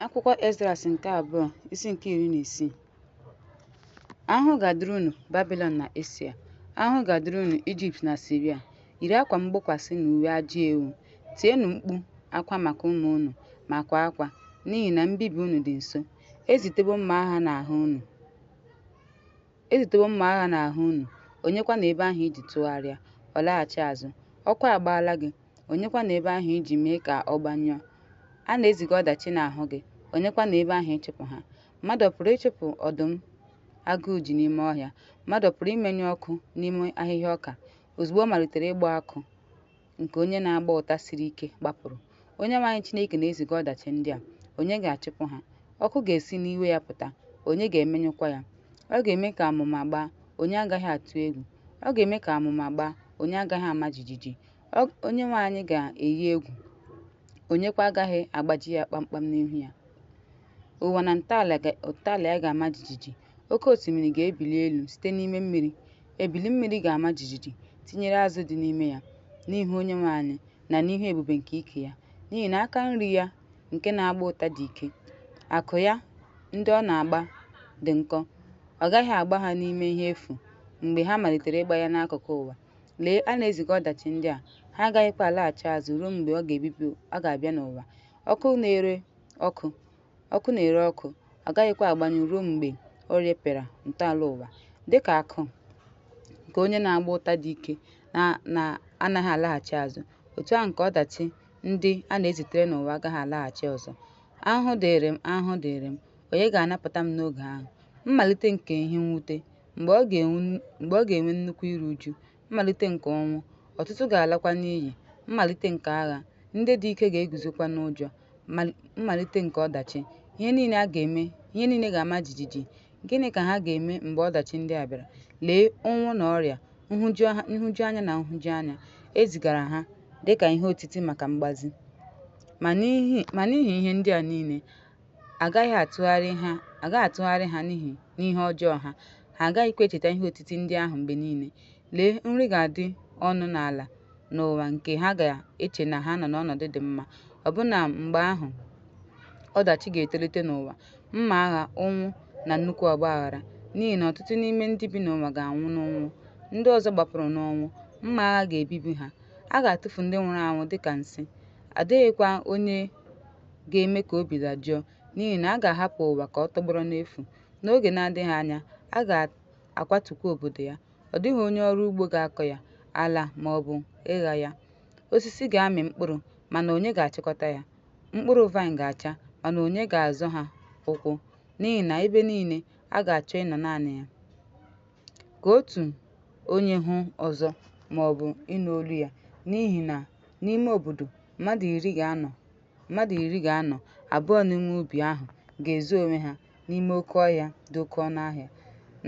Akwụkwọ Ezras nke abụọ isi nke iri na isii ahụhụ ga-adịrị unu Babilọn na Asia ahụhụ ga-adịrị unu Ijipt na Siria yiri akwa mgbokwasị na uwe ajị ewu tienụ mkpu akwa maka ụmụ unu ma kwa akwa n'ihi na mbibi unu dị nso ezitewo mma agha n'ahụ unu Ezitewo mma agha n'ahụ unu, onyekwa na ebe ahụ iji tụgharịa, ọ laghachi azụ. Ọkụ agbaala gị, onyekwa na ebe ahụ iji mee ka ọ gbanyụọ. A na-eziga ọdachi n'ahụ gị, onyekwa na ebe ahụ ịchụpụ ha. Mmadụ ọ pụrụ ịchụpụ ọdụm agụụ ji n'ime ọhịa? Mmadụ ọ pụrụ imenyụ ọkụ n'ime ahịhịa ọka ozugbo ọ malitere ịgba akụ? nke onye na-agba ụta siri ike gbapụrụ. Onyenwe anyị Chineke na-eziga ọdachi ndị a, onye ga-achụpụ ha? Ọkụ ga-esi n'iwe ya pụta, onye ga-emenyụkwa ya? Ọ ga-eme ka amụma gbaa, onye agaghị atụ egwu? Ọ ga-eme ka amụma gbaa, onye agaghị ama jijiji? Onyenwe anyị ga-eyi egwu, onyekwa agaghị agbaji ya kpamkpam n'ihu ya. Ụwa na ntọala ya ga-ama jijiji, Oke osimiri ga-ebili elu site n'ime mmiri, ebili mmiri ga-ama jijiji, tinyere azụ dị n'ime ya, n'ihu Onyenwe anyị na n'ihu ebube nke ike ya. N'ihi na aka nri ya nke na-agba ụta dị ike, akụ ya ndị ọ na-agba dị nkọ. Ọ gaghị agba ha n'ime ihe efu mgbe ha malitere ịgba ya n'akụkụ ụwa. Lee, a na-eziga ọdachi ndị a, ha agaghịkwa alaghachi azụ ruo mgbe ọ ga-ebibi ọ ga-abịa n'ụwa. Ọkụ na-ere ọkụ, ọkụ na-ere ọkụ, ọ gaghịkwa agbanyụ ruo mgbe o repịara ntọala ụwa. Dị ka akụ nke onye na-agba ụta dị ike na-anaghị alaghachi azụ, otu ahụ nke ọdachi ndị a na-ezitere n'ụwa agaghị alaghachi ọzọ. Ahụhụ dịịrị m! Ahụhụ dịịrị m! Onye ga-anapụta m n'oge ahụ? Mmalite nke ihe mwute, mgbe ọ ga-enwe nnukwu iru uju. mmalite nke ọnwụ, ọtụtụ ga-alakwa n'iyi, mmalite nke agha, ndị dị ike ga-eguzokwa n'ụjọ, mmalite nke ọdachi. Ihe niile a ga-eme, ihe niile ga-ama jijiji. Gịnị ka ha ga-eme mgbe ọdachi ndị a bịara? Lee ụnwụ na ọrịa, nhụjuanya na nhụjuanya. E zigara ha dị ka ihe otiti maka mgbazi. Ma n'ihi ihe ndị a niile, a gaghị atụgharị ha a gaghị atụgharị ha n'ihi n'ihe ọjọọ ha ha agaghịkwa echeta ihe otiti ndị ahụ mgbe niile lee nri ga-adị ọnụ n'ala n'ụwa nke ha ga-eche na ha nọ n'ọnọdụ dị mma ọbụna mgbe ahụ ọdachi ga-etolite n'ụwa mma agha ụnwụ na nnukwu ọgba aghara n'ihi na ọtụtụ n'ime ndị bi n'ụwa ga-anwụ n'ụnwụ ndị ọzọ gbapụrụ n'ọnwụ mma agha ga-ebibi ha a ga-atụfu ndị nwụrụ anwụ dịka nsị adịghịkwa onye ga-eme ka obi dajụọ n'ihi na a ga-ahapụ ụwa ka ọ tọgbọrọ n'efu. N'oge na-adịghị anya, a ga-akwatukwa obodo ya. Ọ dịghị onye ọrụ ugbo ga-akọ ya, ala ma ọ bụ ịgha ya. Osisi ga-amị mkpụrụ, mana onye ga-achịkọta ya? Mkpụrụ vaịn ga-acha, mana onye ga-azọ ha ụkwụ? N'ihi na ebe niile, a ga-achọ ịnọ naanị ya. Ka otu onye hụ ọzọ ma ọ bụ ịnụ olu ya, n'ihi na n'ime obodo, mmadụ iri ga-anọ Mmadụ iri ga-anọ, abụọ n'ime ubi ahụ ga-ezo onwe ha n'ime oke ọhịa dị oke ọnụ ahịa,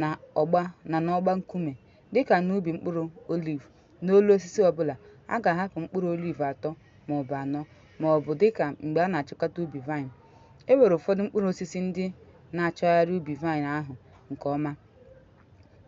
na ọgba na n'ọgba nkume, dị ka n'ubi mkpụrụ oliv, n'olu osisi ọ bụla, a ga-ahapụ mkpụrụ oliv atọ ma ọ bụ anọ, ma ọ bụ dị ka mgbe a na-achịkọta ubi vaịn. E nwere ụfọdụ mkpụrụ osisi ndị na-achọgharị ubi vaịn ahụ nke ọma.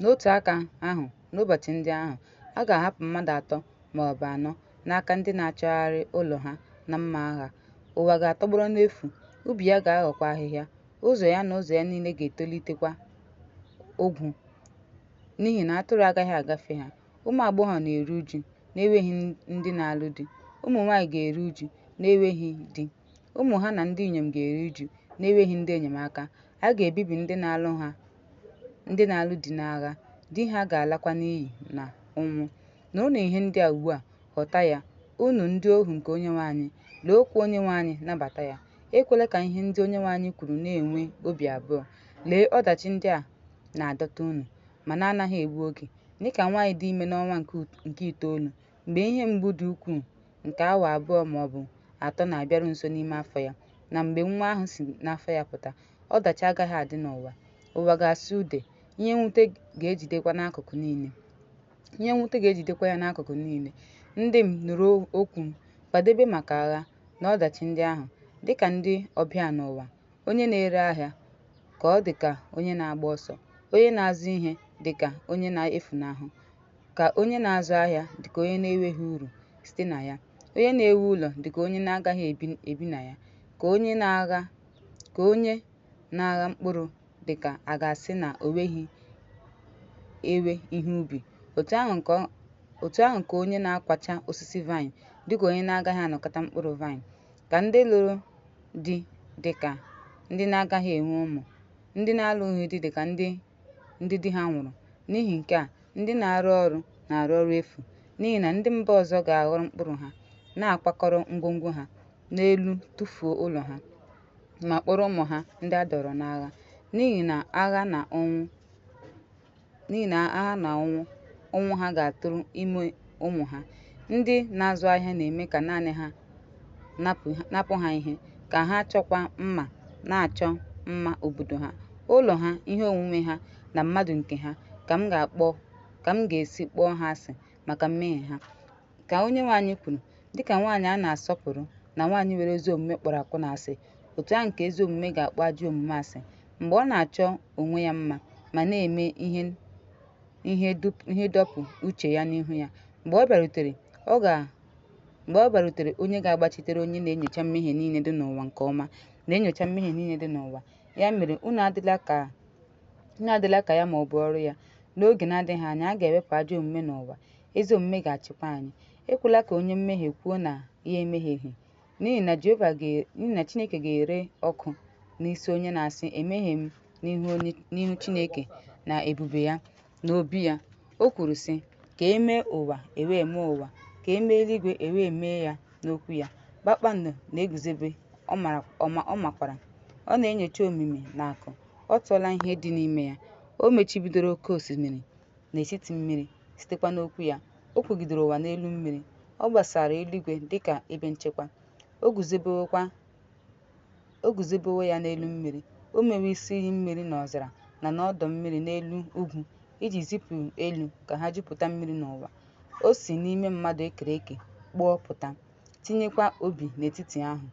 N'otu aka ahụ, n'ụbọchị ndị ahụ, a ga-ahapụ mmadụ atọ ma ọ bụ anọ n'aka ndị na-achọgharị ụlọ ha na mma agha. Ụwa ga-atọgbọrọ n'efu, ubi ya ga-aghọkwa ahịhịa, ụzọ ya na ụzọ ya niile ga-etolitekwa ogwu, n'ihi na atụrụ agaghị agafe ha. Ụmụ agbọghọ na-eru uju na-enweghị ndị na-alụ di, ụmụ nwaanyị ga-eru uju na-enweghị di, ụmụ ha na ndị inyom ga-eru uju na-enweghị ndị enyemaka. A ga-ebibi ndị na-alụ ha ndị na-alụ di n'agha, di ha ga-alakwa n'iyi na ụnwụ. Nụrụnụ ihe ndị a ugbu a, ghọta ya, unu ndị ohu nke Onyenwe anyị, lee okwu Onyenwe anyị, nabata ya. Ekwela ka ihe ndị Onyenwe anyị kwuru na-enwe obi abụọ. Lee ọdachi ndị a na-adọta unu, ma na-anaghị egbu oge, dịka nwaanyị dị ime n'ọnwa nke ut- nke itoolu, mgbe ihe mgbu dị ukwuu nke awa abụọ ma ọ bụ atọ na-abịaru nso n'ime afọ ya, na mgbe nwa ahụ si n'afọ ya pụta. Ọdachi agaghị adị n'ụwa. Ụwa ga-asụ ude, ihe mwute ga-ejidekwa n'akụkụ niile. Ihe mwute ga-ejidekwa ya n'akụkụ niile. Ndị m, nụrụ okwu m, kwadebe maka agha na ọdachi ndị ahụ. Dị ka ndị ọbịa n'ụwa, onye na-ere ahịa ka ọ dị ka onye na-agba ọsọ, onye na-azụ ihe dị ka onye na-efunahụ, ka onye na-azụ ahịa dị ka onye na-enweghị uru site na ya, onye na-ewu ụlọ dị ka onye na-agaghị ebi na ya, ka onye na-agha ka onye na-agha mkpụrụ dị ka a ga-asị na o weghị ewe ihe ubi, otu ahụ ka ọ- otu ahụ ka onye na-akwacha osisi vaịn dị ka onye na-agaghị anakọta mkpụrụ vaịn, ka ndị lụrụ di dị ka ndị na-agaghị enwe ụmụ, ndị na-alụghị di dị ka ndị ndị di ha nwụrụ. N'ihi nke a, ndị na-arụ ọrụ na-arụ ọrụ efu, n'ihi na ndị mba ọzọ ga-aghọrọ mkpụrụ ha, na-akwakọrọ ngwongwo ha n'elu tụfuo ụlọ ha. ma kpọrọ ụmụ ha ndị a dọrọ n'agha n'ihi na agha na ọnwụ n'ihi na agha na ọnwụ ọnwụ ha ga-atụrụ ime ụmụ ha ndị na-azụ ahịa na-eme ka naanị ha napụ ha ihe ka ha chọkwa mma na-achọ mma obodo ha ụlọ ha ihe onwunwe ha na mmadụ nke ha ka m ga-akpọ ka m ga-esi kpọọ ha asị maka mmehie ha ka onyenwe anyị kwuru dịka nwaanyị a na-asọpụrụ na nwaanyị nwere ezi omume kpọrọ akwụna asị otu ahụ ka ezi omume ga-akpọ ajọ omume asị mgbe ọ na-achọ onwe ya mma ma na-eme ihe ihe dọpụ uche ya n'ihu ya mgbe ọ bịarutere ọ ga mgbe ọ bịarutere onye ga-agbachitere onye na-enyocha mmehie niile dị n'ụwa nke ọma na-enyocha mmehie niile dị n'ụwa ya mere unu adịla ka unu adịla ka ya ma ọ bụ ọrụ ya n'oge na-adịghị anya a ga-ewepụ ajọ omume n'ụwa ezi omume ga-achịkwa anyị. Ekwela ka onye mmehie kwuo na ya emehieghị, n'ihi na Jehova ga- n'ihi na Chineke ga-ere ọkụ n'isi onye na-asị emehie m n'ihu onye- n'ihu Chineke na ebube ya n'obi ya. O kwuru sị, ka e mee ụwa e wee mee ụwa, ka e mee eluigwe e wee mee ya n'okwu ya. Kpakpando na-eguzobe, ọ mara- ọ ma- ọ makwara. Ọ na-enyocha omimi na akụ, ọ tụọla ihe dị n'ime ya. O mechibidoro oke osimiri, n'etiti mmiri, sitekwa n'okwu ya, o kwugidere ụwa n'elu mmiri. Ọ gbasara eluigwe dị ka ebe nchekwa, o guzobewokwa o guzobewo ya n'elu mmiri. O mewo isi iyi mmiri n'ọzara na n'ọdọ mmiri n'elu ugwu iji zipụ elu ka ha jupụta mmiri n'ụwa. O si n'ime mmadụ e kere eke kpụọ pụta, tinyekwa obi n'etiti ahụ.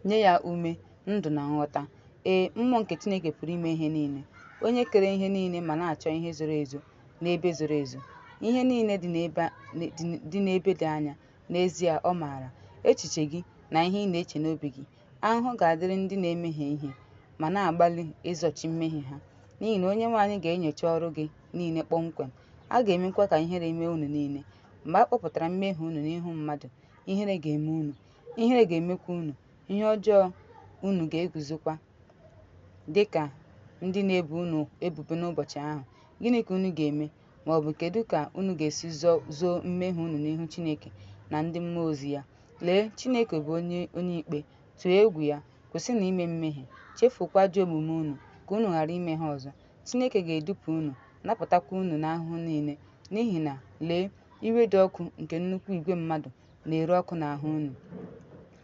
nye ya ume ndụ na nghọta ee mmụọ nke chineke pụrụ ime ihe niile onye kere ihe niile ma na-achọ ihe zoro ezo n'ebe zoro ezo ihe niile dị n'ebe dị n'ebe dị anya n'ezie ọ maara echiche gị na ihe ị na-eche n'obi gị ahụhụ ga-adịrị ndị na-emehie ihe ma na-agbalị izochi mmehie ha n'ihi na onyenwe anyị ga-enyocha ọrụ gị niile kpọmkwem a ga-emekwa ka ihere mee unu niile mgbe a kpọpụtara mmehie unu n'ihu mmadụ ihere ga-eme unu Ihere ga-emekwa unu, ihe ọjọọ unu ga-eguzokwa dị ka ndị na-ebo unu ebubo n'ụbọchị ahụ. Gịnị ka unu ga-eme? Ma ọ bụ kedu ka unu ga-esi zoo mmehie unu n'ihu Chineke na ndị mmụọ ozi ya? Lee, Chineke bụ onye onye ikpe, tụọ egwu ya, kwụsịnụ ime mmehie, chefukwa ajọ omume unu ka unu ghara ime ha ọzọ. Chineke ga-edupụ unu, napụtakwa unu n'ahụhụ niile, n'ihi na lee, iwe dị ọkụ nke nnukwu igwe mmadụ na-ere ọkụ n'ahụ unu.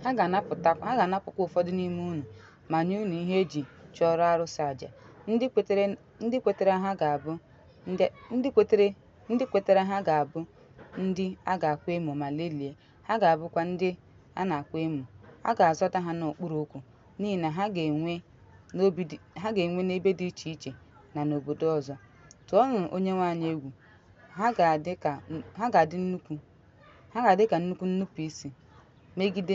Ha ga-anapụkwa ụfọdụ n'ime unu ma nye unu ihe e ji chụọrọ arụsị aja. Ndị kwetere ndị kwetere ha ga-abụ ndị a ga-akwa emo ma lelie, ha ga-abụkwa ndị a na-akwa emo. A ga-azọda ha n'okpuru ụkwụ n'ihi na ha ga-enwe n'ebe dị iche iche na n'obodo ọzọ. Tụọnụ Onyenwe anyị egwu, ha ga-adị nnukwu ha ga-adị ka nnukwu nnupụisi megide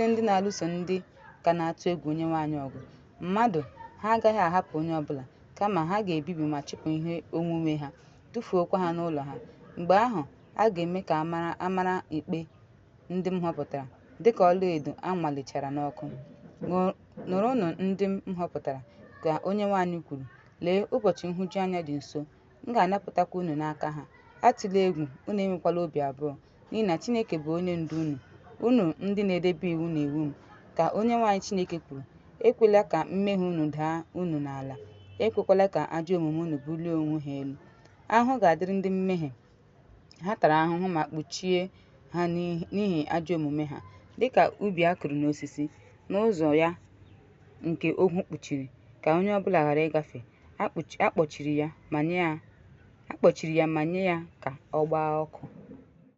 ndị na-alụso ndị ka na-atụ egwu Onyenwe anyị ọgụ. Mmadụ ha agaghị ahapụ onye ọ bụla, kama ha ga-ebibi ma chụpụ ihe onwunwe ha, tụfuokwa ha n'ụlọ ha. Mgbe ahụ, a ga-eme ka a mara ikpe ndị m họpụtara dịka ọlaedo a nwalichara n'ọkụ. Nụrụnụ ndị m họpụtara, ka Onyenwe anyị kwuru. Lee, ụbọchị nhụjuanya dị nso, m ga-anapụtakwa unu n'aka ha. Atụla egwu, unu enwekwala obi abụọ, n'ihi na Chineke bụ onye ndu unu. Unu ndị na-edebe iwu na iwu m, ka Onyenwe anyị Chineke kwuru, ekwela ka mmehie unu daa unu n'ala, ekwekwala ka ajọ omume unu bulie onwe ha elu. Ahụhụ ga-adịrị ndị mmehie Ha tara ahụhụ ma kpuchie ha n'ihi ajọ omume ha, dịka ubi a kụrụ n'osisi, n'ụzọ ya nke ogwu kpuchiri, ka onye ọbụla ghara ịgafe. A kpọchiri ya ma nye ya ka ọ gbaa ọkụ.